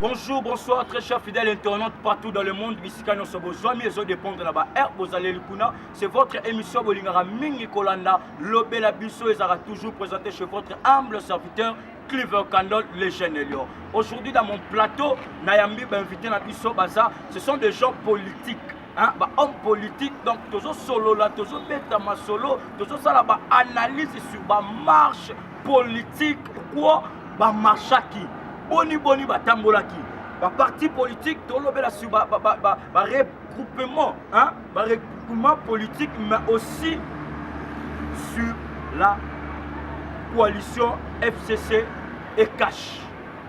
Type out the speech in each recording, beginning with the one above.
Bonjour, bonsoir, très chers fidèles internautes partout dans le monde. Bisika nyoso bozwami ezo dépendre na ba air bozaleli kuna. C'est votre émission Bolingara Mingi Kolanda. Lobela biso ezara toujours présenté chez votre humble serviteur Cleaver Candle, le jeune Elion. Aujourd'hui dans mon plateau, Nayambi invité na biso baza, ce sont des gens politiques. Hein, ba homme politique donc tozo solola tozo beta masolo tozo sala ba analyse sur ba marche politique pourquoi ba marchaki boni boni ba tambolaki ba parti politique tolobela sur ba ba ba, ba, ba regroupement hein ba regroupement politique mais aussi sur la coalition FCC et cash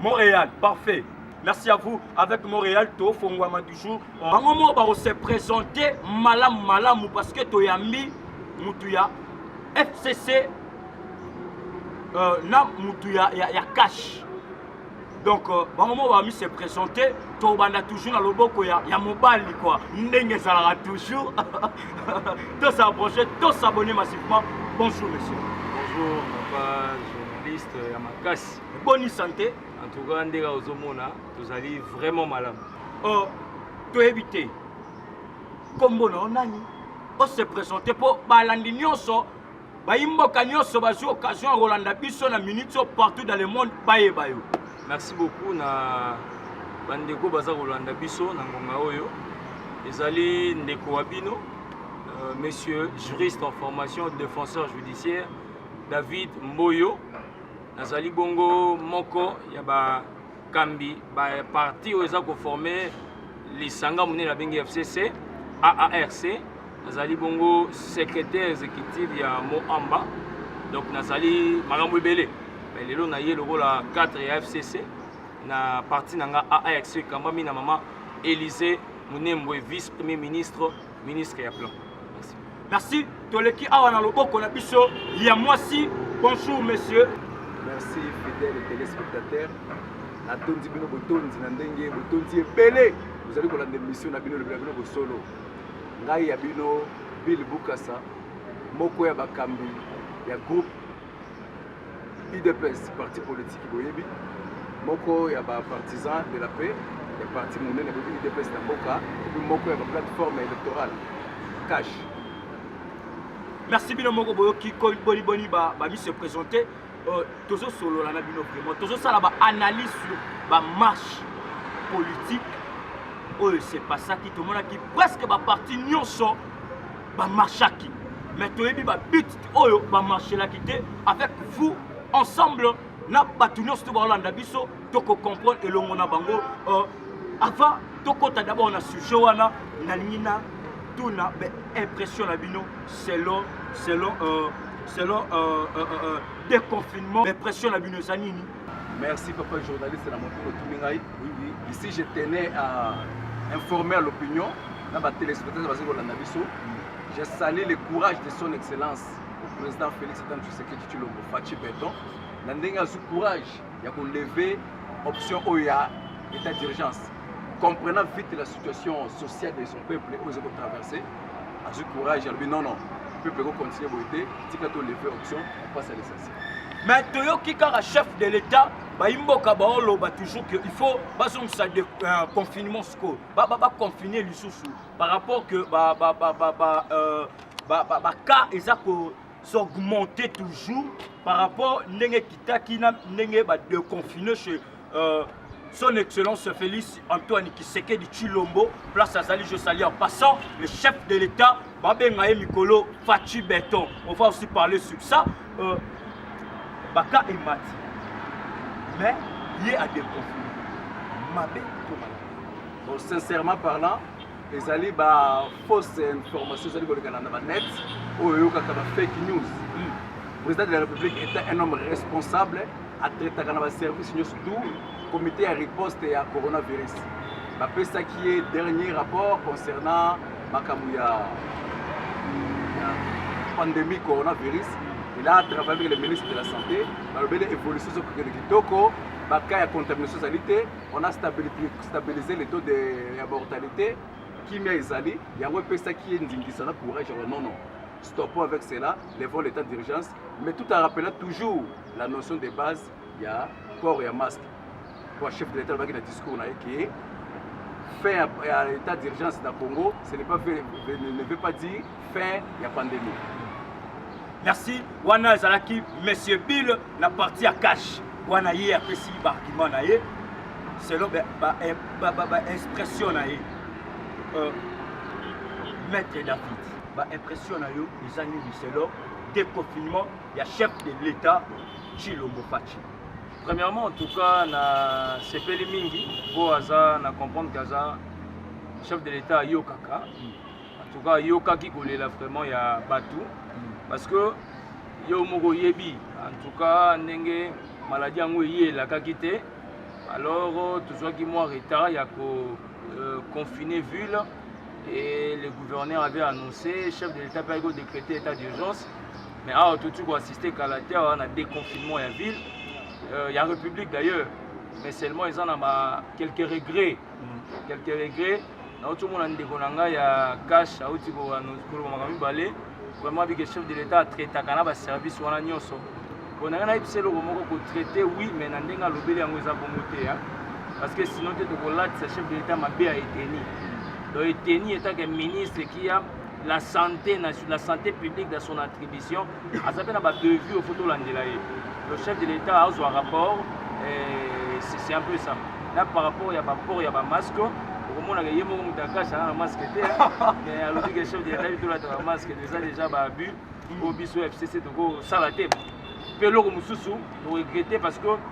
Montréal, parfait. Merci à vous. Avec Montréal, to fongwama du jour. Bango mo ba se présenter malam malam parce que to yambi mutu ya FCC euh, na mutu ya, ya, ya cash. Donc euh, bango mo ba mi se présenter to banda toujours na loboko ya, ya mobali quoi. Ndenge ezalaka toujours. to s'approcher, to s'abonner massivement. Bonjour monsieur. Bonjour papa journaliste ya makasi. Bonne santé. En tout cas, ndega ozomona, tozali vraiment malamu. Oh, toyebi te. Kombo na nani? O se présenter po balandi nyonso bayimboka nyonso bazwi occasion ya kolanda biso na minute oyo partout dans le monde bayeba yo merci beaucoup na bandeko baza kolanda biso na ngonga oyo ezali ndeko wa bino euh, monsieur juriste en formation défenseur judiciaire david mboyo Nazali bongo moko ya bakambi ba parti oyo eza koforme lisanga monene abengi FCC AARC. Nazali bongo secrétaire exécutif ya Moamba, donc nazali makambo ebele mais lelo naye lokola cadre ya FCC na parti na nga AARC ekambami na mama Elise Munembwe vice-premier ministre ministre ya plan merci merci toleki awa na loboko na biso ya mwasi bonjour monsieur merci fidèle téléspectateur natondi bino botondi na ndenge botondi ebele bozali kolanda emission na bino lobela bino bosolo ngai ya bino bill bukasa moko ya bakambi ya groupe udps parti politique boyebi moko ya ba partisans de la paix ya parti monene boyebi udps na mboka epi moko ya ba plateforme électorale cash merci bino moko boyoki boniboni bami se présente euh, tozosolola na bino vraiment tozosala baanalyse sur bamarche politique oyo se passaki tomonaki presque baparti nyonso bamarchaki mais toyebi babit oyo bamarchelaki te avec vous ensemble na bato nyonso to baolanda biso tokocomprendre elongo na bango euh, avant tokɔta d'abord na sujet wana nalingi na tuna impression na bino selon selon euh, selon euh, euh, euh, euh déconfinement impression na bino eza nini Merci papa journaliste na moto otumi ngai. Ici je tenais à informer à l'opinion na ba téléspectateurs bazali kolanda biso. Je salue le courage de son excellence le président Félix Antoine Tshisekedi Tshilombo Fatshi Beton na ndenge azwi courage ya ko lever option oyo ya état d'urgence comprenant vite la situation sociale de son peuple oyo ezali kotraverse azwi courage alobi non non peuple ekokontinue boye te tika to lever option mpasi ya lisasi mais toyoki kaka chef de l'état bayimboka baoloba toujours que il faut bazongisa de euh, confinement sikoyo baconfine ba, ba lisusu par rapport que ba, ba, ba, ba, ba, euh, ba, ba, ba cas eza ko s'augmenter toujours par rapport ndenge ekitaki na ndenge badeconfine chez euh, son excellence Félix Antoine Kisekedi Chilombo place azali je salue en passant le chef de l'état babenga ye mikolo Fatshi Beton on va aussi parler sur ça euh, baka emati mais ye a déconfine mabe to mabe bon sincèrement parlant ezali ba fausse information ezali kolekana na banet oyo oyokaka ba fake news hmm. président de la république est un homme responsable atraitaka na baservice nyonso tu comité ya riposte ya coronavirus bapesaki ye dernier rapport concernant makambo ya pandémie coronavirus il a travaillé avec le ministre de la santé balobeli évolution ezokokende kitoko baka ya contamination ezali te on a stabilisé le taux de ya mortalité kimia ezali yango epesaki ye ndingisa na courage ya non non stoppons avec cela levons l'état d'urgence mais tout en rappelant toujours la notion de base ya port ya masque mpo chef de l'etat alobaki na discours na ye ke fin ya état d'urgence na congo ce n'est pas fait, ne veut pas dire fin ya pandémie merci wana ezalaki monsieur bill na parti ya cash wana ye apesi baargument na ye selon baimpression na ye euh, maître david baimpression na yo eza nini selon déconfinement ya chef de l'État Tshilombo Fatshi. Premièrement, en tout cas, na sepeli mingi po aza na comprendre que aza chef de l'État ayokaka. En tout cas, ayokaki kolela vraiment ya bato parce que yo moko oyebi en tout cas ndenge maladie yango eye elakaki te alors tozwaki mwa retard ya ko euh, confiner ville et le gouverneur avait annoncé chef de l'État pe ayaki ko décréter état d'urgence Mais awa touti ko assister kala te awa na déconfinement ya ville euh, ya république d'ailleurs mais seulement eza na ba quelques regrets mm. quelques regrets nauti omona ndeko na ngai ya cash auti koloba makambo mibale vraiment bike chef de l'état atraitaka na baservice wana nyonso mpo na ngai nayebisa eloko moko kotraite oui mais na ndenge alobeli yango eza bongo te parce que sinon te tokolatisa chef de l'état mabe ya eteni donc eteni etake ministre kia la santé la santé publique dans son attribution aza mpe na badevue ofo tolandela ye le chef de l'état azwa rapport eh, c'est un peu ça na par rapport ya baport ya bamasque okomonaka ye moko moto akashi aza na masque te mais alobi ke chef de l'état bitolataka masque eza déjà baabus oyo biso fcc tokosala te mpe eloko mosusu toregrete parce que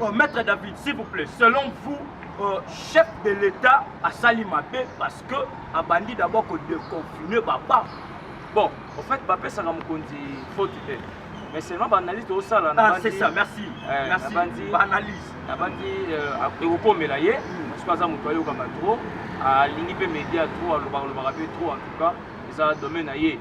Oh, maître David, s'il vous plaît, selon vous, euh, chef de l'État a sali mabe parce que a bandit d'abord que de confiner papa. Bon, en fait, papa ça n'a mokonzi faute te. Mais seulement ba analyse au sala na ah, c'est ça, merci. Euh, merci. Bandi, ba analyse. Na bandi euh, ekokomela ye mm. parce que aza moto ayoka ba trop, alingi pe média trop, alobaka lobaka pe trop en tout cas, eza domaine na ye.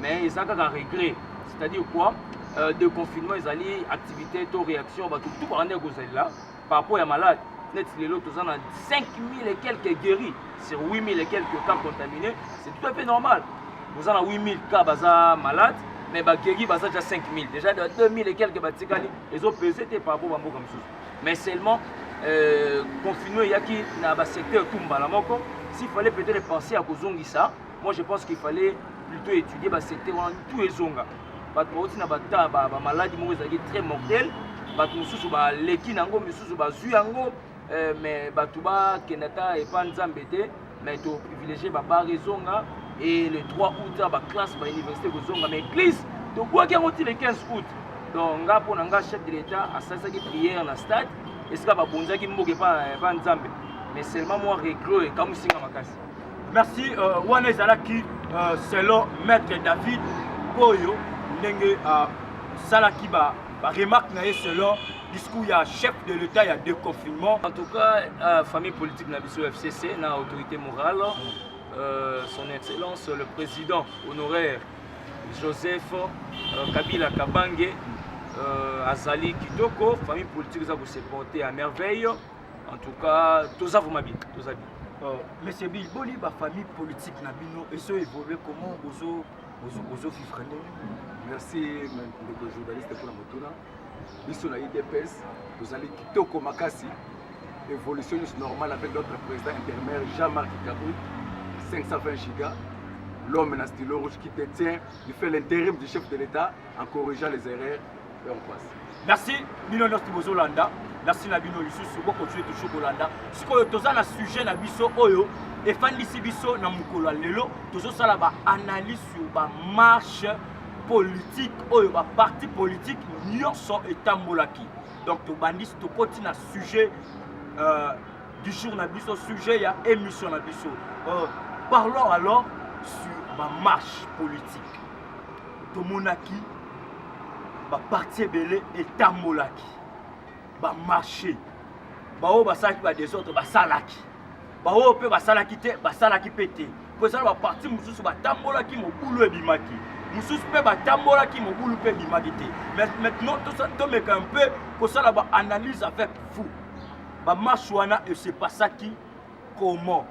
Mais eza kaka regret C'est-à-dire quoi euh, de confinement ezali activité to réaction bato tout bakanda kozalela par rapport ya malade neti lelo toza na 5000 et quelques guéris sur 8000 et quelques cas contaminés c'est tout à fait normal boza na 8000 cas baza malade mais baguéri baza déjà 5000 déjà de 2000 et quelques batikali ezopese te par rapport bamboka mosusu mais seulement euh, confinement eyaki na basecteur tout mbala moko s'il fallait peut-être penser ya kozongisa Moi je pense qu'il fallait plutôt étudier ba secteur wana tout ezonga. Bato bauti na bata ba, ba maladie moko ezalaki très mortel. Bato mosusu baleki na yango, misusu bazwi yango euh, mais bato bakenda ata epa nzambe te mais to privilégie babar ezonga et le 3 août ba classe ba université kozonga mais église tobwaki yango ti le 15 août donc nga mpo na nga chef de l'état asalisaki prière na stade esika babonzaki mboka epa nzambe mais seulement mwa reglo ekamwisi nga makasi merci uh, wana ezalaki uh, selon maître david oyo ndenge asalaki uh, ba baremarque na ye selon discours ya chef de l'état ya déconfinement en tout cas uh, famille politique na biso fcc na autorité morale uh, son excellence le président honoraire joseph uh, kabila kabange uh, azali kitoko famille politique eza koseporte à merveille En tout cas, toza vraiment bien, toza bien. Euh, Monsieur Bill, boni ba famille politique na bino et so évoluer comment ozo ozo ozo vivre ndenge. Merci ndeko journaliste pour la motuna. Biso na IDPS, tozali kitoko makasi. Évolution juste normale avec notre président intérimaire Jean-Marc Kabou, 520 gigas. L'homme na stylo rouge qui détient, il fait l'intérim du chef de l'État en corrigeant les erreurs merci bino nyonso bozolanda merci na bino lisusu bokontinue toujours kolanda sikoyo toza na sujet na biso oyo efandisi biso na mokolo ya lelo tozosala baanalyse sur bamarche politique oyo baparti politique nyonso etambolaki donc tobandisi tokoti na sujet euh, du jour na biso sujet ya émission na biso euh, parlons alors sur bamarche politique tomonaki baparti ebele etambolaki bamarche baoyo basalaki badesordre basalaki baoyo mpe basalaki te basalaki mpe te mpo eza na baparti mosusu batambolaki mobulu ebimaki mosusu mpe batambolaki mobulu mpe ebimaki te mais maintenant tomeka un peu kosala baanalyse avec vous bamarche wana esepasaki comment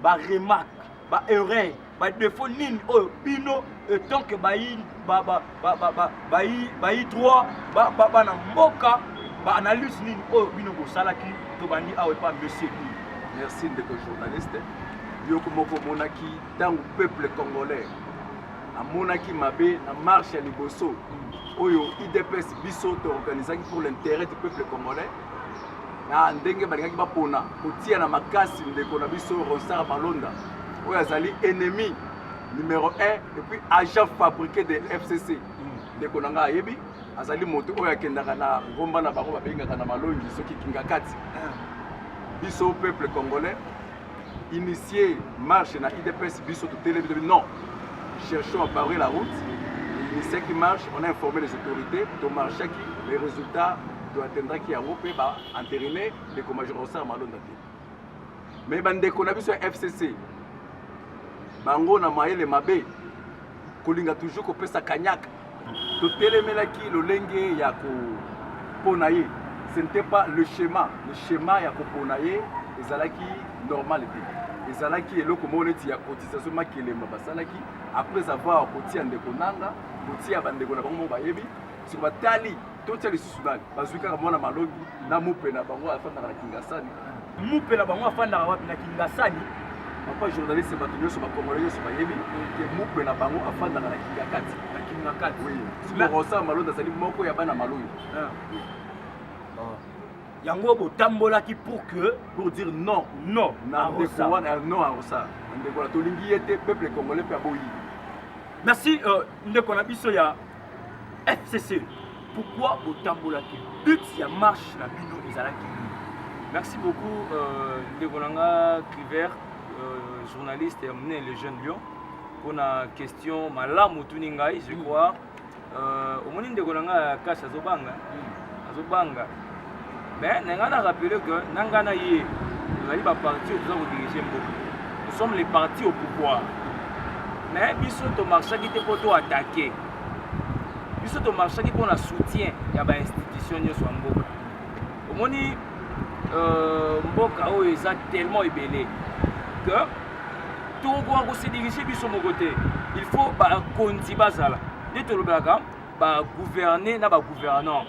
ba remarque ba erreur ba défaut nini oyo bino etant que bayi ba ba ba ba ba bayi bayi droit ba ba bana mboka ba analyse nini oyo bino bosalaki tobandi awa epa monsieur i merci ndeko journaliste yoko moko omonaki ntango peuple congolais amonaki mabe na marche ya liboso oyo idps biso toorganisaki pour l'intérêt du peuple congolais na ndenge balingaki bapona kotia na makasi ndeko na biso ronsar malonda oyo azali ennemi numero 1 epuis agent fabriqué de fcc mm. ndeko na ngai ayebi azali moto oyo akendaka na ngomba na bango babengaka na malongi soki kingakati ah. biso peuple congolais initier marche na idps biso totelemi tobi non cherchons à barrer la route initiaki marche on a informé les autorités tomarchaki les résultats toattendraki yango mpe baenterine ndeko major osar malonda te mais bandeko na biso ya fcc bango na mayele mabe kolinga toujours kopesa kanyaka totelemelaki lolenge ya kopona ye ce n'était pas le schéma le schéma ya kopona ye ezalaki normal te ezalaki eloko moko neti ya cotisation makelemba basalaki après avoir kotia ndeko nanga kotia bandeko na bango moko bayebi soki batali totia lisusu nani bazwi kaka mwana malongi na mupe na bango afandaka na kingasani mupe na bango afandaka wapi na kingasani papa journaliste bato nyonso bakongole nyonso bayebi ke mupe na bango afandaka na kingakati na kingakati rosa malongi azali moko ya bana malongi ah. ah. yango botambolaki pour que pour dire non non na ndeko wana non a rosa ndeko wana tolingi ye te peuple congolais mpe aboyi merci euh, ndeko na biso ya FCC, pourquoi botambolaki but ya marche na bino ezalaki nini? Merci beaucoup euh, ndeko na nga Cliver euh, journaliste ya monene le jeune lion mpona question malamu otuni ngai je crois euh, omoni ndeko na nga kasi azobanga hmm. azobanga mais na ngai na rappeler que na ngai na ye tozali ba parti oyo toza kodirige mboka nous sommes les partis au pouvoir mais biso tomarchaki te mpo toatake biso tomarchaki mpo na soutien ya bainstitution nyonso ya mboka omoni euh, mboka oyo eza tellement ebele que tokokoka kosedirige biso moko te il faut bakonzi bazala nde tolobelaka ba gouverner na ba gouvernants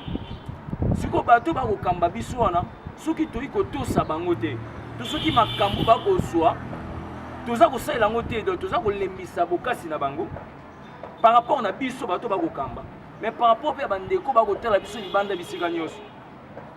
siko bato bakokamba biso wana soki toyi kotosa bango te to soki makambo bakozwa toza kosalela yango te donc toza kolembisa bokasi na bango par rapport na biso bato bakokamba mais par rapport mpe ya bandeko bakotala biso libanda bisika nyonso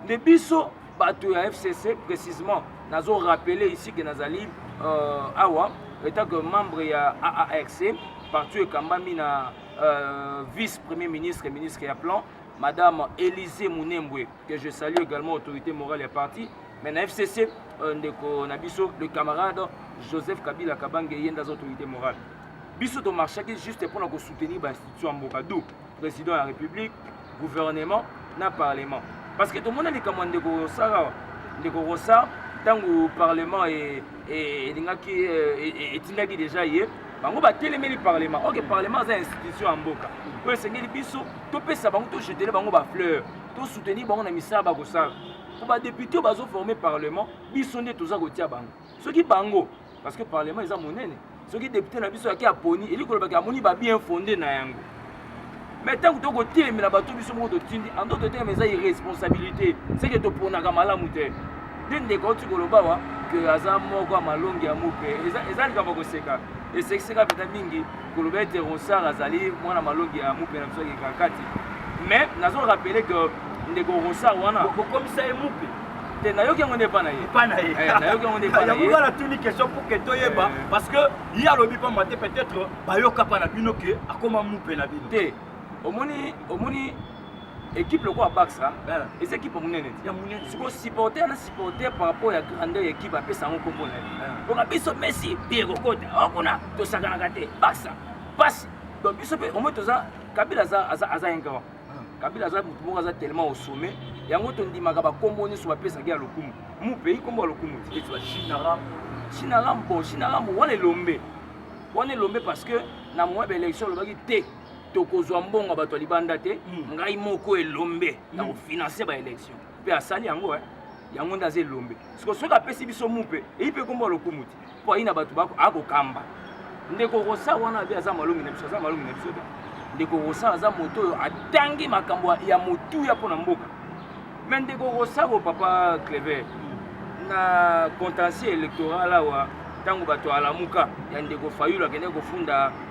nde biso bato ya fcc précisement nazo rappeler ici que nazali euh, awa etant que membre ya aarc partout ekambami na euh, vice premier ministre ministre ya plan madame Elise Mounembwe, que je salue également, autorité morale et parti, mais na FCC, euh, ndeko na biso, le camarade Joseph Kabila Kabange, yenda autorité morale. Biso to marchaki juste pour nous soutenir l'institution en Bocadou, président de la République, gouvernement na parlement parce que tomona likambo ya ndeko rosar awa ndeko rosar ntango parlement e, e, elingaki e, etindaki deja ye bango batelemeli parlement oke parlement aza institution ya mboka oyo esengeli biso topesa bango tojetele bango bafleur tosoutenir bango na misala bakosala mpo badepute bazoforme parlement biso nde toza kotia bango soki bango parce que parlement eza monene soki depute na biso yaki aponi eli kolobaki amoni ba bien fonde na yango mais ntango to kotelemela bato biso moko totindi ando totelema eza irresponsabilité seke toponaka malamu te nde ndeko auti koloba wa ke aza moko ya malongi ya mope eza likambo ya koseka esekiseka mpenza mingi koloba ete rosar azali mwana malongi ya mupe na biso ya kikakati mais nazo rappele que ndeko rosar wana bokomisa ye mupe te nayoki yango nde epa na ye epa na ye eh, nayoki yango nde epa na ye yango wana tuni question pour que toyeba eh. parce que ye alobi pamba te peut-être bayoka pa na bino ke akoma mupe na bino te omoni omoni ekipe lokola baxa eza ekipe monene siko supporter na supporter par rapport ya grandeur ya ekipe apesa yango nkombo na ye mpoka biso messi bie kokota okuna tosakanaka te baxa pasi donc biso mpe omoi toza kabila aza ingrand kabila aza motu moko aza tellement au sommet yango tondimaka bakombo nyonso bapesaki ya lokumu mu pays kombo ya lokumu chinaram bon chinaram wana elombe wana elombe parce que na moya baélection olobaki te tokozwa mbongo ya bato ya libanda te hmm. ngai moko elombe hmm. na kofinanse baélection mpe asali yango eh. yango nde aza elombe siko soki apesi biso mupe eyi mpe kombo ya lokumu te mpo ayi na bato akokamba ndeko rosa wana abe aza malongi na biso aza malongi na biso te ndeko rosa aza moto oyo atangi makambo ya motuya mpo na mboka me ndeko rosa o papa clever na contentieux électoral awa ntango bato alamuka ya ndeko fayulu akendeki kofunda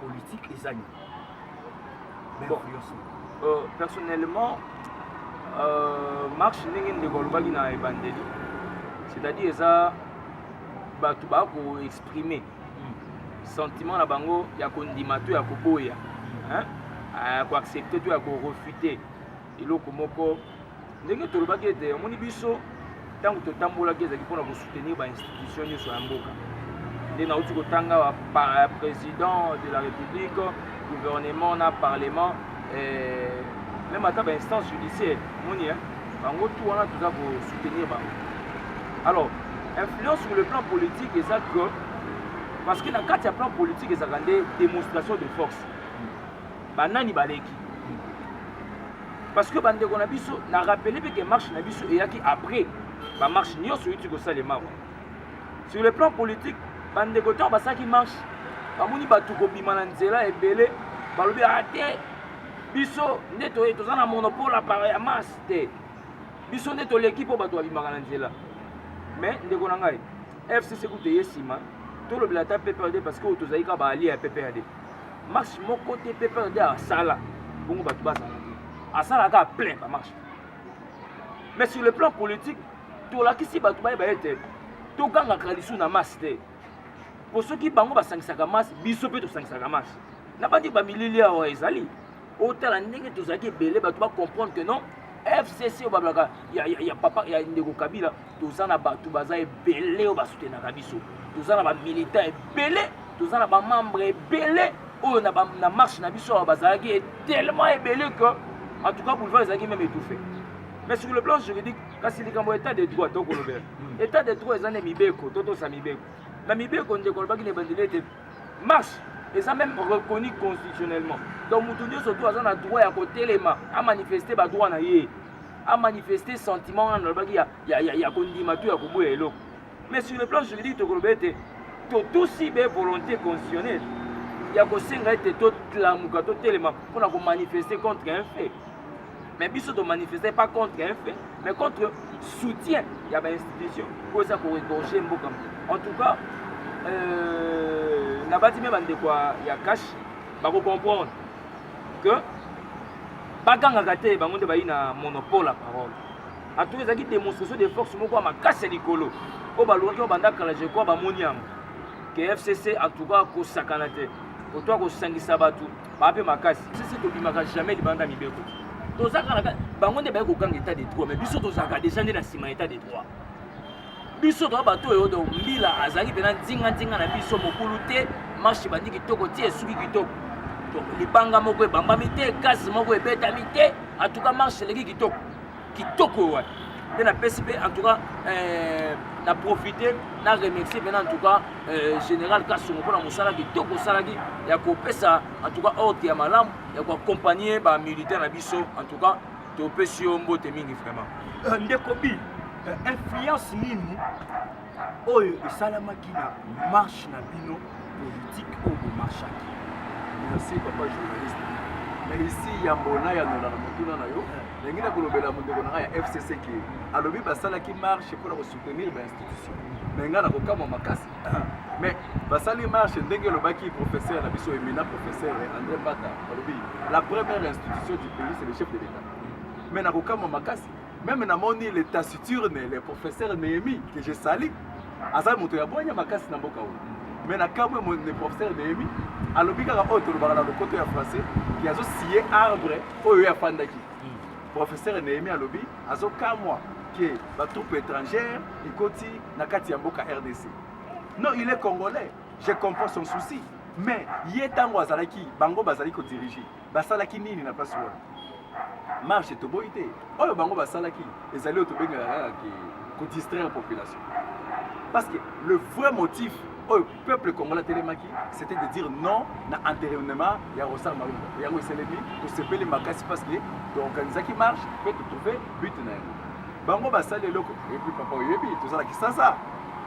politique eza nini bon. euh, personnellement euh, marche ndenge ndeko alobaki na ebandeli c'est-à-dire eza bato bakoexprime hmm. sentiment na bango ya kondima to ya koboya koaccepte to ya korefute eloko moko ndenge tolobaki ete omoni biso ntango totambolaki ezalaki mpona kosoutenir bainstitution nyonso ya mboka nde nauti kotanga président de la république gouvernement na parlement eh, meme ata bainstance judiciaire moni bango tu wana toza kosoutenir bango alors influence sur le plan politique eza que parce que na kati ya plan politique ezalaka nde démonstration de force banani baleki parce que bandeko na biso na rappele mpe ke marche na biso eyaki après bamarche nyonso euti kosalema wana sur le plan politique bandeko ntango basalaki marche bamoni bato kobima na nzela ebele balobi a ah, te biso nde toza na monopole apara ya masse te biso nde toleki mpo bato babimaka na nzela mais ndeko na ngai fcc kutu eye nsima tolobela ata pprd parce que oyo tozali kaka baalie ya pprd marche moko te pprd asala bongo bato bazala te asala kaka plein bamarche mais sur le plan politique tolakisi bato bayeba ete togangaka lisu na masse te mpo soki bango basangisaka masse biso mpe tosangisaka masse na bandi bamilili awa ezali otala ndenge tozalaki ebele bato bacomprendre que non fcc oyo bablaka ya, ya, ya papa ya ndeko kabila toza na bato baza ebele oyo basutenaka biso toza na bamilitant ebele toza na bamembre ebele oyo na, na marche na biso awa bazalaki tellement ebele que en tout cas boulevard ezalaki meme étouffé mais sur le plan juridique kasi likambo état de droit tokolobela hmm. état de droit eza nde mibeko totosa mibeko na mibeko ndeko alobaki na ebandeli ete marche eza meme reconnu constitutionnellement donc moto nyonso to aza na droit ya kotelema amanifeste badroit na ye a manifester sentiment wana nalobaki ya, ya, ya, ya kondima to ya koboya eloko mais sur le plan juridique tokoloba ete totusi be volonté constitutionnelle ya kosenga ete totlamuka totelema mpo na komanifester contre un fait mais biso tomanifeste pas contre un fait mais contre soutien ya bainstitution oyo eza koregorge mboka en tout cas euh, nabati me bandeko ya cash bakocomprendre que bagangaka te bango nde bayi na monopole ya parole ato ezalaki démonstration de force moko ya makasi ya likolo oyo balukaki oyo banda kala je crois bamoni yango ke fcc en tout cas kosakana te otoa kosangisa bato baa mpe makasi sisi tobimaka jamais libanda mibeko tozalaka bango nde baye kokanga état de droit mais biso tozalaka déjà nde na nsima ya état de droit biso toa bato oyo donc mbila azalaki mpena nzinganzinga na biso mokulu te marche ebandi kitoko ti esuki kitoko donc libanga moko ebambami te gaz moko ebetami te en tout cas marche eleki kitoko kitoko oyo wana nde napesi mpe en tout cas euh, na profite na remercie mpena en tout cas euh, général kasongo mpona mosala kitoko osalaki ya kopesa en tout cas ordre ya malamu ya koaccompagne bamilitaire na biso en tout cas topesi yo mbote mingi vraiment euh, ndeko bi euh, influence nini oyo esalamaki na marche na bino politike oyo bomarchaki merci papa journaliste na esi yambo nayanola na motuna na yo ndenge na kolobela mondeko na ngai ya fcc ke alobi basalaki marche mpo na kosoutenir bainstitution me ngai nakokamwa makasi mais basali marche ndenge elobaki professeur na biso emina professeur andré mbata alobi la première institution du pays c'est le chef de l'état mais nakokamwa makasi meme namoni le taciturne le professeur néhémi que je sali aza moto ya bwanya makasi na mboka oyo mais nakamwe le professeur néhémi alobi kaka oyo tolobaka na lokoto ya français ke azosiye arbre oyo ye afandaki hmm. professeur néhémi alobi azokamwa ke batroupe étrangère ekoti na kati ya mboka rdc non il est congolais je comprends son souci mais ye ntango azalaki bango bazali kodirige basalaki nini na place wana marche toboyi te oyo bango basalaki ezali oyo tobengaka kaka kodistraire population parce que le vrai motif oyo peuple congolais atelemaki c'était de dire non na enterrement ya Rosar Malonga yango eselemi tosepeli makasi parce que toorganisaki marche mpe totrouve but na yango bango basali eloko epuis papa oyebi tozala kisasa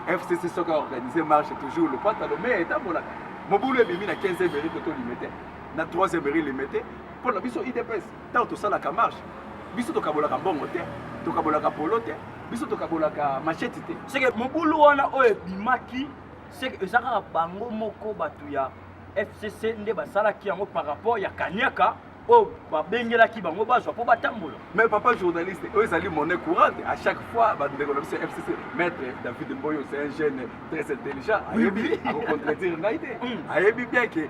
fcc soki aorganise marche toujours lopata lome etambolaka mobulu ebimi na 15 emeri to tolimete na 3 emeri limete mpo na biso idps Tango tosalaka marche, biso tokabolaka mbongo te, tokabolaka polo te, biso tokabolaka machette te. Seke mobulu wana oyo ebimaki, seke eza kaka bango moko bato ya FCC nde basalaki yango par rapport ya kaniaka oyo babengelaki bango bazwa mpo batambola mais papa journaliste oyo ezali monnaie courante à chaque fois bandeko na biso ya fcc maître david mboyo c'est un jeune très intelligent ayebi akocontredire ngai te ayebi bien ke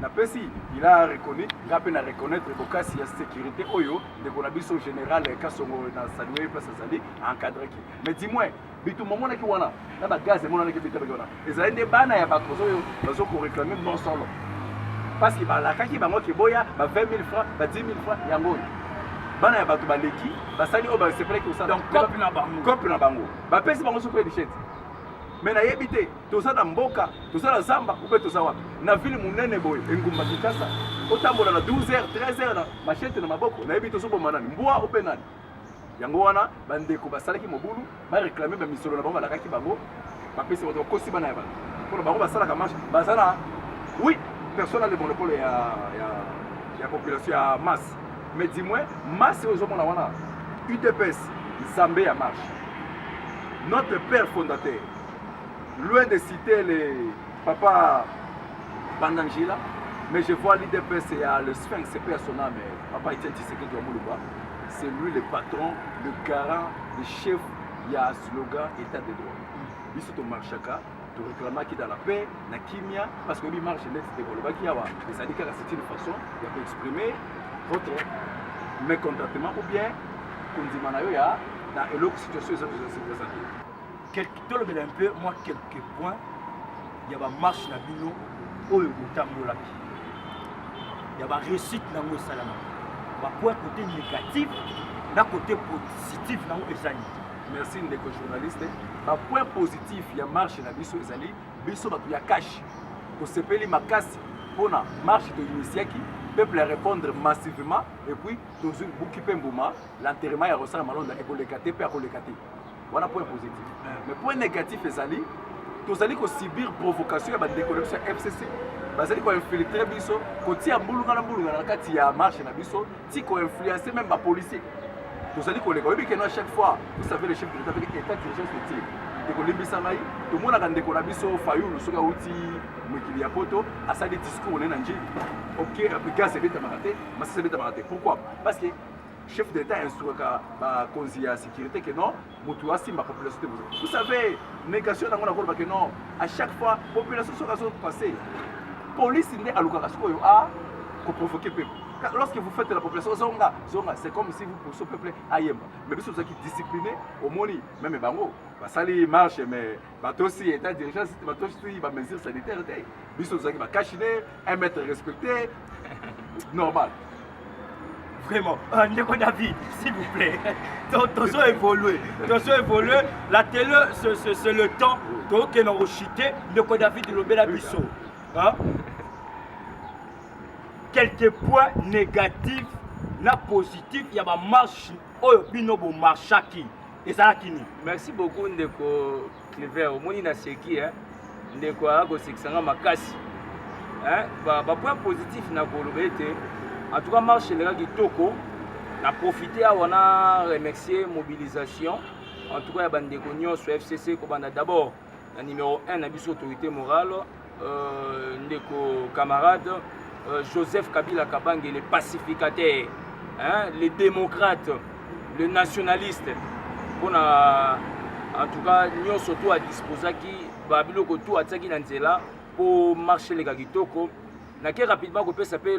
Napesi il a reconnu nga pe na reconnaitre bokasi ya securite oyo ndeko na biso general Kasongo na Sanwe place azali encadreki mais du moins bitumba monaki wana na ba gaz emonanaki bitabaki wana ezali nde bana ya bato oyo bazo ko reclamer mosolo parce que balakaki bango ke boya ba 20 000 francs ba 10 000 francs yango oyo bana ya bato baleki basali oyo basepelaki kosala donc cope na bango cope na bango bapesi bango soki edichete mais nayebi te toza na mboka toza na zamba ope toza wapi na ville monene boye engumba kinshasa otambola na 12 heures 13 heures na machete na maboko nayebi tozoboma nani mbwa ope nani yango wana bandeko basalaki mobulu bareklame bamisolo na bango balakaki bango bapesi bato bakosi bana ya bato mpona bango basalaka marche baza na oui personne a le monopole ya, ya, ya population ya masse mais du moins masse oyo ezomona wana udps nzambe ya marche notre père fondateur Loin de citer le papa Bandangila, mais je vois l'IDPS et le Sphinx, c'est père son âme, papa Etienne Tshisekedi wa Muluba. C'est lui le patron, le garant, le chef, il y a slogan état de droit. Biso to marchaka, to réclamaki dans la paix, na kimia, parce que lui marche net de Golobaki Yawa. Et ça dit que c'est une façon de exprimer votre mécontentement ou bien kondima na yo ya na eloko situation eza kozala se présenter. tolobela un peu mwa quelques points ya bamarche na bino oyo botambolaki ya baréussite nango esalamaki bapoint côté négatif na côté positif nango ezali merci ndeko journaliste bapoint positif ya marche na biso ezali biso bato ya kashe tosepeli makasi mpona marche toinitiaki peuple ya répondre massivement epuis tozwi buki mpe mbuma l'enterrement ya rosala malonda ekoleka te mpe akoleka te wana point positif mais point négatif ezali tozali kosubir provocation ya bandeko na biso ya fcc bazali koinfiltre biso kotia mbulungana mbulungana na kati ya marche na biso ti koinfluence meme bapolicier tozali koleka oyebi keno à chaque fois vous savez le chef de l'état peke état d'urgence utile ekolimbisa ngai tomonaka ndeko na biso fayulu soki awuti mokili ya poto asali discours ne na njili ok gaz ebetamaka te masasi ebetamaka te pourquoi parce que chef de l'État instruaka bakonzi ya sécurité que non moto asimba population te bozo vous savez négation yango na koloba que non à chaque fois population soki azo passer police nde alukaka sikoyo a koprovoke peuple lorsque vous faites la population zonga zonga c'est comme si vous poussez peuple ayemba mais biso tozalaki discipliné omoni meme bango basali marche mais batosi etat d'urgence te batosi ba mesure sanitaire te biso tozalaki ba cache ne un mètre respecté normal vraiment euh, ndeko david s'il vous plaît tozo évolue tozo évolue la télé c'est le temps tokokende kochite ndeko david lobela biso quelques points négatifs na positif ya bamarche oyo bino bomarchaki ezalaka nini merci beaucoup ndeko clever omoni na seki eh? ndeko aya kosekisa nga makasi eh? bapoint ba positif na koloba ete en tout cas marche eleka kitoko na profite awa na remercier mobilisation en tout cas ya bandeko nyonso fcc kobanda d'abord na numero 1 na biso autorité morale euh, ndeko camarade euh, joseph kabila kabange le pacificateur hein, le démocrate le nationaliste mpo na en tout cas nyonso to adisposaki babiloko to atiaki na nzela mpo marche eleka kitoko nake rapidement kopesa mpe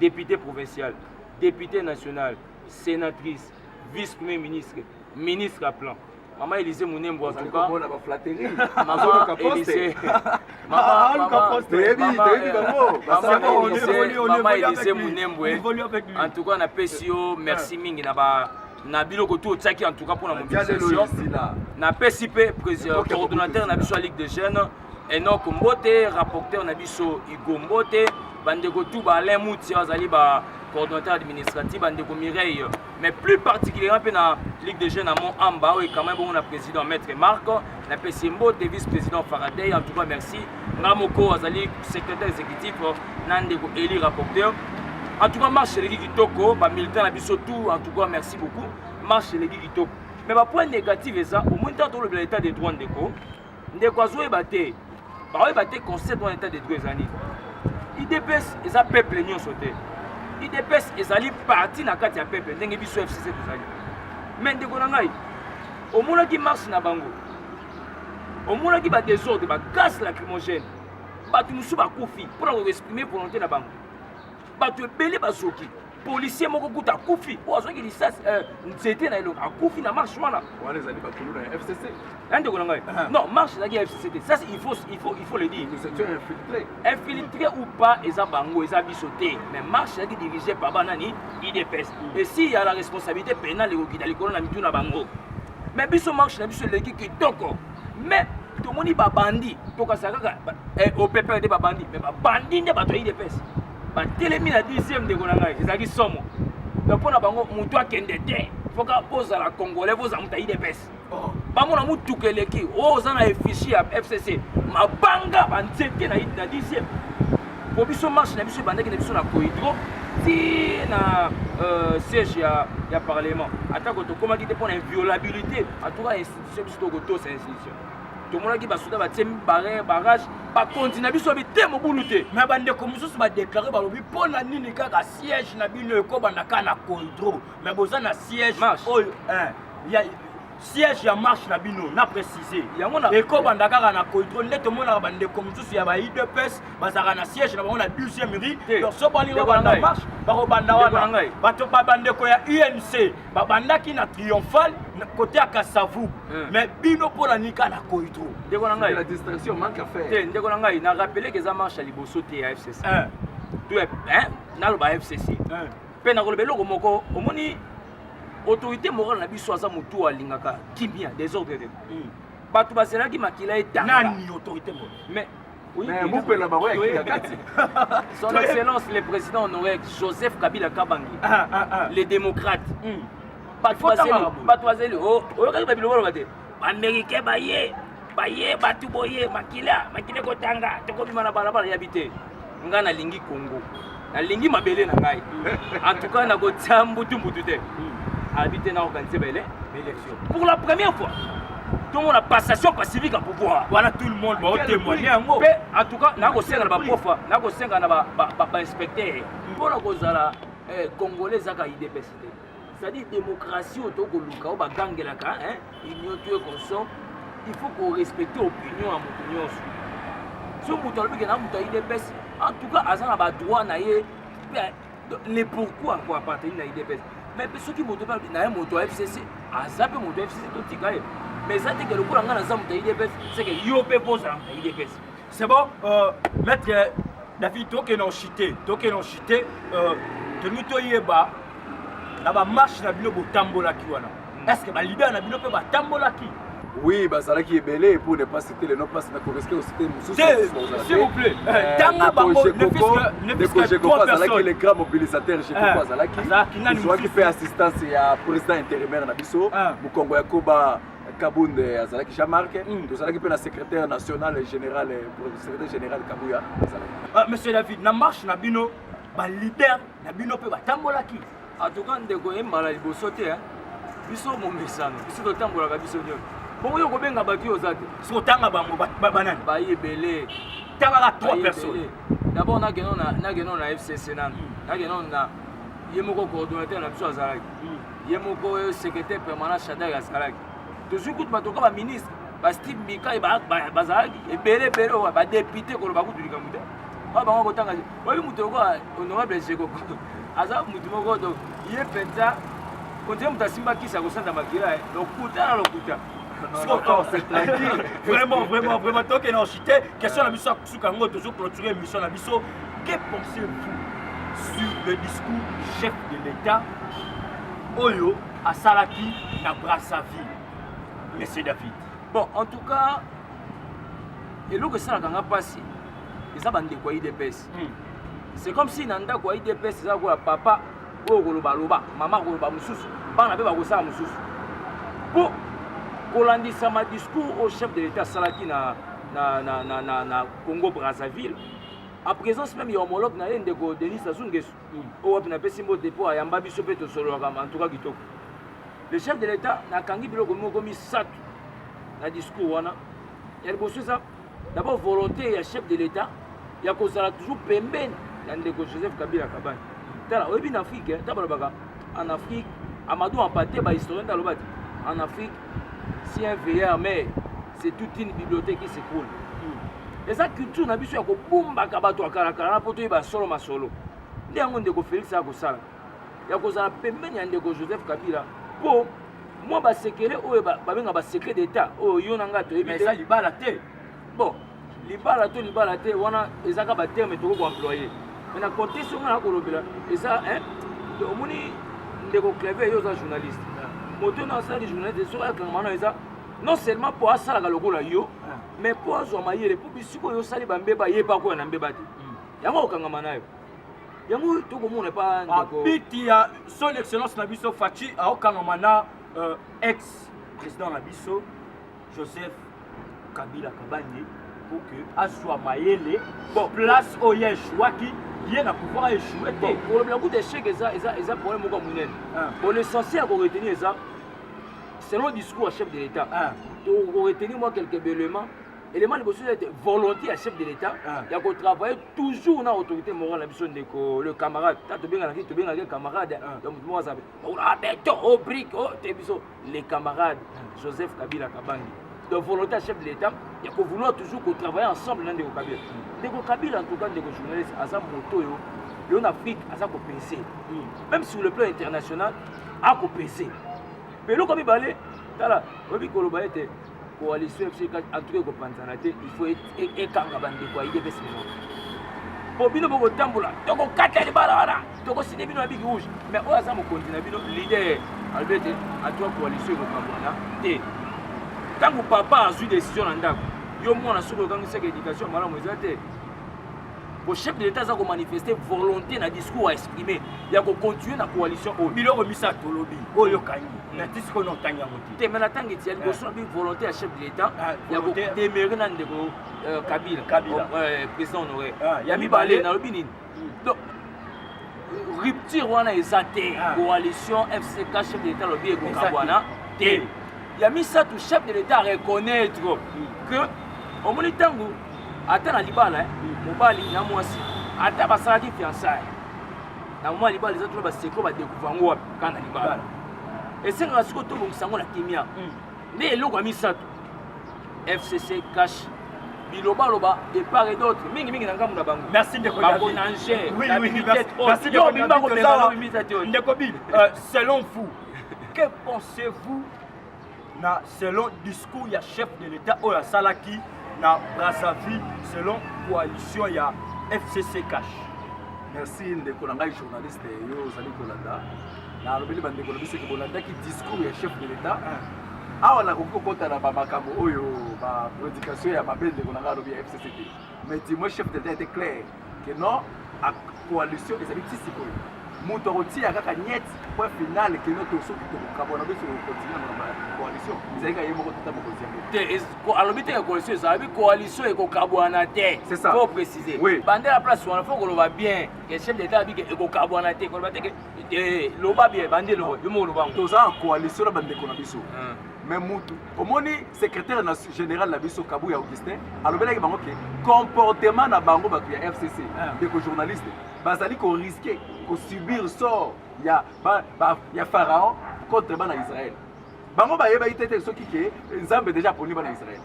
depute provincial depute national senatrice vice premier ministre ministre ya plan mama elise munembo atukaomona baflaterie nazoluka poste mama elise munembwe antuka napesi yo merci mingi na ba na biloko tu otiaki antuka mpona mobilisation napesi mpe coordonnateur na biso ya ligue de jeunes Enoch Mbote, rapporteur na biso Hugo Mbote, bandeko tout ba Alain Moutia azali ba coordonnateur administratif bandeko Mireille mais plus particulièrement mpe na ligue de jeunes ya mont amba oyo ekamai bongo na président maître marc na pesi mbote vice président faraday en tout cas merci nga moko azali secrétaire exécutif na ndeko eli rapporteur en tout cas marche eleki kitoko bamilitant na biso tout en tout cas merci beaucoup marche eleki kitoko mais bapoint négative eza omoni ntango tolobela état de droit ndeko ndeko azoyeba te baoyeba te concept wana etat de droit eza nini idps eza peuple nyonso te idps ezali parti na kati ya peuple ndenge biso fcc tozali me ndeko na ngai omonaki marche na bango omonaki badesordre bagase lacrymogène bato mosusu bakufi mpo na koexprime volonté na bango bato ebele bazoki policier moko kuta akufi oyo azwaki lisasi eh, nzete na elongo akufi na marche wana wana ezali bakuluna ya fcc ya ndeko na ngai ah. non marche ezalaki ya fcc te ça il faut il faut il faut le dire infiltré ou pas eza bango eza biso te mais marche ezalaki dirigé par banani idps mm. et si ya la responsabilité pénale ekokita likolo na mitu na bango mais biso marche na biso eleki kitoko mais tomoni babandi tokasaka kaka eh, opepele te babandi mais babandi nde bato ya idps batelemi na dixième ndeko na ngai ezalaki somo donc mpo na bango motu akende te foka bozala congolais bozala moto ya idps bamona motuka eleki oyo oh, oza na efishi ya fcc mabanga banzete na dixième mpo biso marche na biso ebandaki na biso na cohydro ti na euh, siège ya, ya parlement atako tokomaki te mpo na inviolabilité atuka institution biso tokotosa institution tomonaki basoda batie barrière barrage bakonzi na biso abi te mobulu te me bandeko mosusu badeklare balobi mpo na nini kaka siège na bino ekobanda ka na coldro me boza na siège oyo siège ya marche na bino na précise yango na ekobanda kaka na coidro nde tomonaka bandeko mosusu ya ba udps bazalaka na siège na bango na 12e rue donc so balingi babanda marche bakobanda wana bato bandeko ya unc babandaki na triomphal kote ya kasavu hmm. mais bino mpo na nika na koitro ndeko na ngai te ndeko na ngai na rappele ke eza marche ya liboso te ya fcc eh. naloba fcc eh. mpe nakoloba eloko moko omoni autorité morale na biso aza motu oyo alingaka kimia desordre te hmm. bato bazelaki makila etanga mais Mais mupela na bango ya kika kati. Son Excellence le Président honoraire Joseph Kabila Kabange, ah, ah, ah. le démocrate. Mm. bato azeli oh, oyokaki babiloko oloba te baaméricain baye baye bato boye makila makila ekotanga tokobima na balabala yabi te nga nalingi congo nalingi mabele na ngai en tout cas nakotia mbutumbutu te abi te naorganize bele élection pour la première fois tomona passation pacifique ya pouvoir wana tout le monde baotemoigne yango mpe en tout cas nakosenga na baprofa nakosenga na bainspecteur mpo na kozala eh, congolais ezaka idps te c'est-à-dire démocratie oyo tokoluka oyo bagangelaka union to ye consom il faut korespecte opinion ya moto nyonso so moto alobike na moto ya idps en tout cas aza na badroit na ye le pourquoi ko appartenir na idps mais mpe soki moto mpe alobi na ye moto ya fcc aza mpe moto ya fcc totika ye mais eza teke lokola ngai naza moto ya idps seke yo mpe mpo ozala moto ya idps C'est bon, euh, maître euh, David, toi qui es non chité, toi qui es non chité, euh, de nous toi yeba, na ba marche na bino botambolaki wana. Hmm. Est-ce que ba leader na bino pe batambolaki? Oui, bazalaki ebele pour ne pas citer le nom parce que nakoriske osite mosusu s'il vous plaît eh, euh, tanga bango nekojekoko azalaki le grand mobilisateur jekoko eh, azalaki azwaki mpe assistance ya président intérimaire na biso ah. mokongo ya koba Kabund azalaki Jean Marc mm. tozalaki mpe na secrétaire national général secrétaire général Kabuya azalaki ah, monsieur David na marche na bino ba leader na bino mpe batambolaki en tout cas ndeko ye mbala liboso te biso momesano biso totambolaka biso nyonso bongo yo kobenga bato oyo oza te soki otanga bango banani baye ebele tangaka trois personnes d'abord nageno na fcc nanu nageno na ye moko coordonnateur na biso azalaki hmm. ye moko oyo secrétaire permanent shadari azalaki tozwi kutu batoka baministre basteve mikai bazalaki ebele ebele oyo badepute koloba kutu likambo te oyo bango kotanga oyebi moto lokola honorable jego aza moto moko to ye mpenza ondire moto asimba kisi akosanda makila eh. lokuta na lokuta vraiment vraiment vraiment tokende na chite question na biso suka yango tozo clôturer émission na biso que pensez-vous sur le discours du chef de l'état oyo asalaki na brassaville monsieur david bon en tout cas eloko esalaka nga mpasi eza bandeko ya idps hmm. c'est comme si na ndako ya idps eza lokola papa oyo koloba loba mama koloba mosusu bana mpe bakosala mosusu mpo kolandisama discours oyo chef de l'état asalaki na na, na, na, na, na congo brazzaville a présence même ya homologue na ye ndeko denis sassou ngesu mm. oyo wapi napesi mbo depot ayamba biso mpe tosololaka antuka kitoko le chef de l'état nakangi biloko moko misato na discours wana ya liboso eza d'abord volonté ya chef de l'état ya kozala toujours pembeni ya ndeko joseph kabila kabani tala oyebi na afrike ntango balobaka En Afrique, Amadou Ampate, ba historien d'Alobati, en Afrique, si un veilleur mais c'est toute une bibliothèque qui s'écroule. Hmm. Eza culture na biso ya kobumbaka bato ya kalakala na mpo toyeba solo masolo nde yango ndeko félix akosala ya kozala pembeni ya ndeko joseph kabila mpo mwa basekele oyo babenga basecret d'état oyo yo na ngai toyebi eza libala te bon libala to libala te wana ezaka ba terme tokoki ko employer mais na contexte oyo na kolobela eza hein omoni ndeko cleve yo oza journaliste moto oyo asalaki journaliste soki ayakangama na eza non seulement mpo asalaka lokola yo mais mpo azwa mayele mpo bisiko oyo osali bambeba ye mpe akoya na mbeba te hmm. yango okangama nayo yango tokomona epa ndekobeti ya son excellence na biso faci aokangama na euh, ex président na biso Joseph Kabila Kabange pour que azwa mayele bon place oyo ye echouaki ye na pouvoir echoue te kolobela kuta echec eza eza eza problème moko ya monene ah. bon l'essentiel ya koretenir eza selon discours ya chef de l'état ah. tokoretenir mwa quelques éléments élément liboso eza ete volonté ya chef de l'état ah. ya kotravaille toujours na autorité morale na biso ndeko le camarade ta tobenganaki tobenganaki camarade ya moto moko aza beton o brique o te biso le camarade Joseph Kabila Kabangi de volonté ya chef de l'État ya ko vouloir toujours ko travailler ensemble na ndeko Kabila ndeko Kabila en tout cas ndeko journaliste aza moto oyo yo na Afrique aza ko pese même sur le plan international ako pese mpe eloko mibale tala oyebi koloba ete coalition biso atuka ekopanzana te il faut ekanga bandeko ya idps mino po bino bokotambola tokokata libala wana tokoside bino na bigi rouge mais oyo aza mokonzi na bino leader alobi ete atuka coalition ekokambwana te ntango papa azwi décision na ndako yo mwana soki okangisaka éducation malamu eza te Ko chef de l'État aza ko manifester volonté na discours a exprimer ya ko continuer na coalition oyo. Biloko misa tolobi oyo kangi na tisi ko notanga yango te. Te mais na tangi ti ya liboso na bi volonté ya chef de l'État ah, ya ko demeurer na ndeko euh, Kabila. Kabila. Oh, euh, président honoraire. Ah, ya mibale na lobi nini? Hmm. Donc rupture wana eza te ah. coalition fck chef de l'état alobi ekoka wana te ya misato chef de l'état reconnaître hmm. que omoni ntango ata na libala eh, mobali na mwasi ata basalaki fiançaye na mwa libala eza tuna baseko badekuvre yango wapi kaka na libala esengaka sikoyo tobongisa yango na kimia hmm. nde eloko ya misato fcc cash bilobaloba de part et d'autre mingi mingi na ngambo na bango merci ndeko bakonange ndeko bi euh, selon vous que pensez-vous na selon discours ya chef de l'État oyo asalaki na Brazzaville selon coalition ya FCC Cash. Merci ndeko na ngai journaliste yo ozali kolanda na alobeli bandeko na biso ke bolandaki discours ya chef de l'État ah. awa nakoki kokota na bamakambo oyo baprédication ya mabe ndeko na ngai alobi ya FCCT mais dis-moi chef de l'État était clair Que non, a coalition ezali ti sikoyo. Mutu akotia kaka niet point final que non to soki to kabona biso ko continuer na coalition. Ezali ka yemo ko tata mokozi yango. Te alobi te coalition ezali coalition ekokabwana te. C'est ça. Faut préciser. Oui. Bande la place wana faut koloba bien. Que chef d'état abi ke ekokabwana te. Koloba te ke loba bien bande loba. Yo mo loba. Toza en coalition na bande ko na biso. me mutu omoni secrétaire na général na biso kabuya augustin alobelaki bango ke comportement na bango bato ya fcc ah. ndeko journaliste bazali koriske kosubir sort ya, ba, ba, ya pharaon contre bana israel bango bayebaki te te soki ke nzambe deja aponi bana israel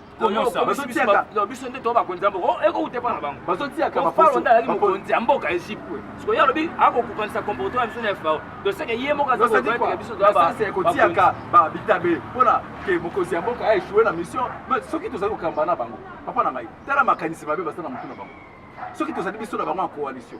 biso nde to bakonzi ya mboka ekouta epa na bango falo nde azali mokonzi ya mboka egypte siko ye alobi akokokanisa comportement ya biso na fao toseke ye moko azakokoyateka biso toyakotiyaka babitabe mpona ke mokonzi ya mboka aechoue na mission soki tozali kokamba na bango papa na ngai tala makanisi mabe baza na motu na bango soki tozali biso na bango ya coalition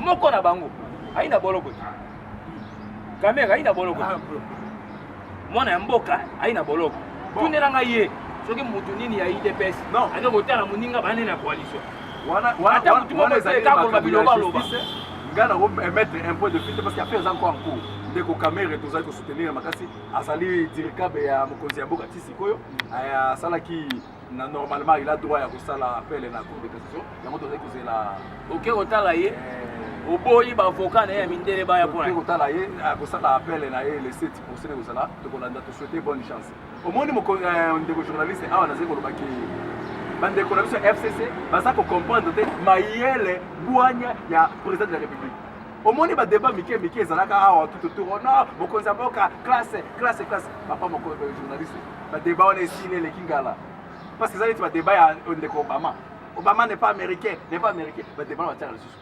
moko na bango ayi na boloko te kamere ayi na boloko te mwana ya mboka ayi na boloko tunela ngai ye soki motu nini ya idps aza kotala moninga bane na coalition ata motu moko esaleka koloba biloba aloba ngai nango emettre un point de vue te parce que affaire eza nko en cours ndeko kamere tozali kosoutenir makasi azali dirikabe ya mokonzi ya mboka ti sikoyo asalaki na normalement il a droit ya kosala appel na cour de cassation yango tozali kozela oke kotala ye eh. oboyi baavoka na ye ya mindele baya mpona kotala ye akosala appel na ye le 7 procès ekozala tokolanda tosouhaite bonne chance omoni eh, ndeko journaliste awa nazali koloba ke bandeko na biso ya fcc baza kocomprendre te mayele bwanya ya président de la république omoni badeba mike mike ezalaka awa tutotour ona mokonzi ya mboka classe classe classe papa moko eh, journaliste ba debat wana esili eleki ngala parce que eza neti ba debat ya ndeko obama obama n'est pas américain n'est pas américain ba debat wana batiaka lisusu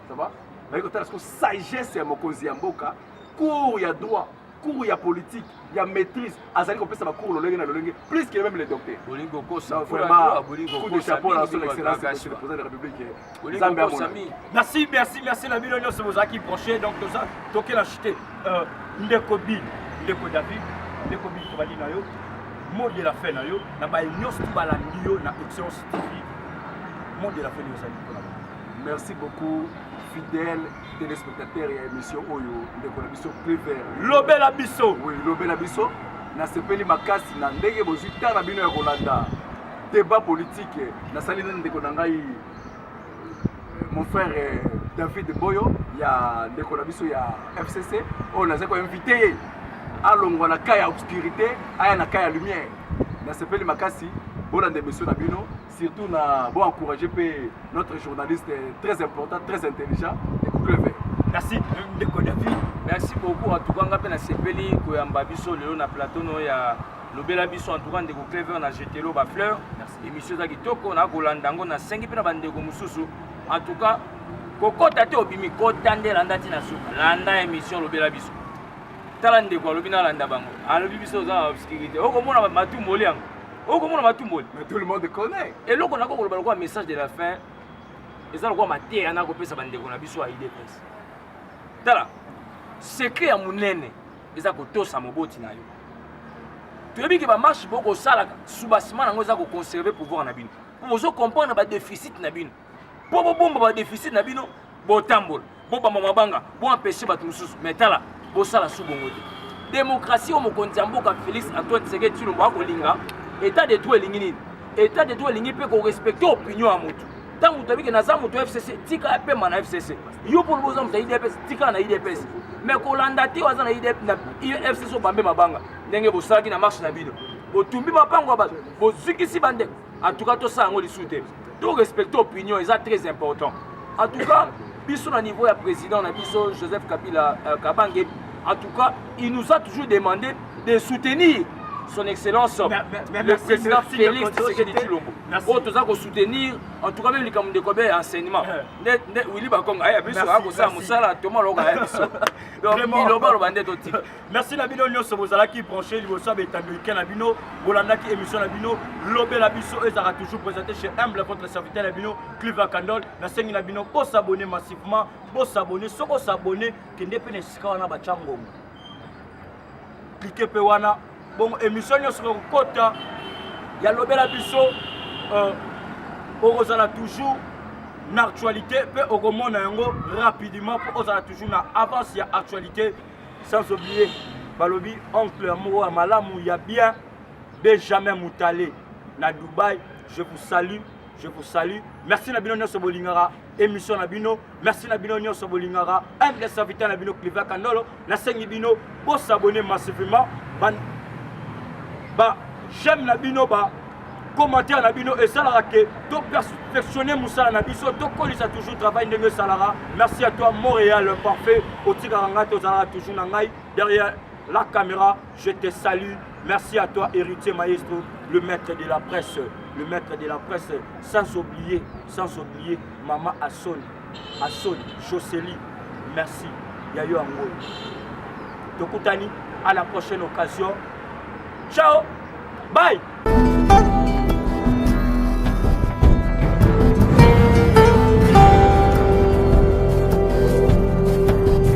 ça va baye kotala siko sagesse ya mokonzi ya mboka cours ya droit cours ya politique ya maîtrise azali kopesa bacours lolenge na lolenge plus que même le docteur bolingi kokosa vraiment coup de chapeau na son excellence le président de la république nzambe amona merci merci merci na bino nyonso bozalaki branche donc toza tokela chute euh, ndeko bin ndeko david ndeko bin tobali na yo mot de la fin na yo na baye nyonso balandi yo na excellence tv mot de la fin yo ozali mpona merci beaucoup fidèle téléspectateur ya émission oyo ndeko na biso clever lobela biso oui lobela biso nasepeli makasi na ndenge bozwi ntango na bino ya kolanda Debat politique nasali na ndeko na ngai mon frère eh, David Boyo ya ndeko na biso ya FCC oyo nazali ko inviter ye alongwa na cas ya obscurité aya na cas ya lumière nasepeli makasi bolanda emission na bino surtout na bo encourager mpe notre journaliste eh, très important très intelligent ekucleve merci ndeko david merci beaucoup en tout cas nga mpe nasepeli koyamba biso lelo na plateau no ya lobela biso en tout cas ndeko clever na jetelo ba fleur émission eza kitoko na kolanda yango nasengi mpe na bandeko mosusu en tout cas kokota te obimi kota nde landa ntina suka landa émission lobela biso tala ndeko alobi nalanda bango alobi biso oza na obscurité okomona matumboli yango okomona matumboli eloko nako koloba lokola message de la fin eza lokola mateya nakopesa bandeko na biso ya idps tala secret ya monene eza kotosa moboti na yo toyebi ke bamarche bokosalaka soubassement yango eza koconserve pouvoir na bino mpo bozo comprendre badeficit na bino mpo bobomba badeficit na bino botambola bobamba mabanga boempeshe bato mosusu mai tala bosala su bongo te demokrasi oyo mokonzi ya mboka félix antoine tseke tshilombo akolinga etat de droit elingi nini etat de droit elingi mpe korespecte opinion ya motu ntango toyebi ke naza moto ya fcc tika apema na fcc yo mpo lobi oza moto ya idps tika na idps mais kolanda te aza na fcc obambe mabanga ndenge bosalaki na marche na bino botumbi mapango ya bato bozikisi bandeko en tout cas tosala yango lisusu te to respecte opinion eza très important en tout cas biso na niveau ya président na biso joseph kabila euh, kabange en tout cas il nous a toujours demandé de soutenir son excellence mais, mais, mais, le président Félix Tshisekedi Tshilombo oyo toza kosoutenir en tout cas meme likambo ndeko abe ya enseignement nde eh. nde Willy Bakonga aya biso akosala mosala toma loka aya biso donc bilobaloba nde totika merci na bino nyonso bozalaki branché liboso ya betando ike na bino bolandaki émission na bino lobela biso ezalaka toujours présenté chez humble votre serviteur na bino clive akandol nasengi na bino bosabone massivement bosabone soki osabone kende mpe na esika wana batya ngongo klike mpe wana bongo émission nyonso kokota ya lobela biso euh, okozala toujours na actualité mpe okomona yango rapidement mpo ozala toujours na avance ya actualité sans oublier balobi oncle ya moko ya malamu ya bien benjamin mutale na dubai je vous salue je vous salue merci na bino nyonso bolingaka émission na bino merci na bino nyonso bolingaka humble serviteur na bino cliva kandolo nasengi bino bosabone massivement ba, ba j'aime na bino ba commentaire na bino esalaka ke toperfectionne mosala na biso tokolisa toujours travail ndenge esalaka merci à toi montréal parfait otikaka ngai tozalaka toujours na ngai derrière la caméra je te salue merci à toi héritier maestro le maître de la presse le maître de la presse sans oublier sans oublier Maman a soni a soni Jocely merci ya yo yango oyo tokutani à la prochaine occasion ciao bye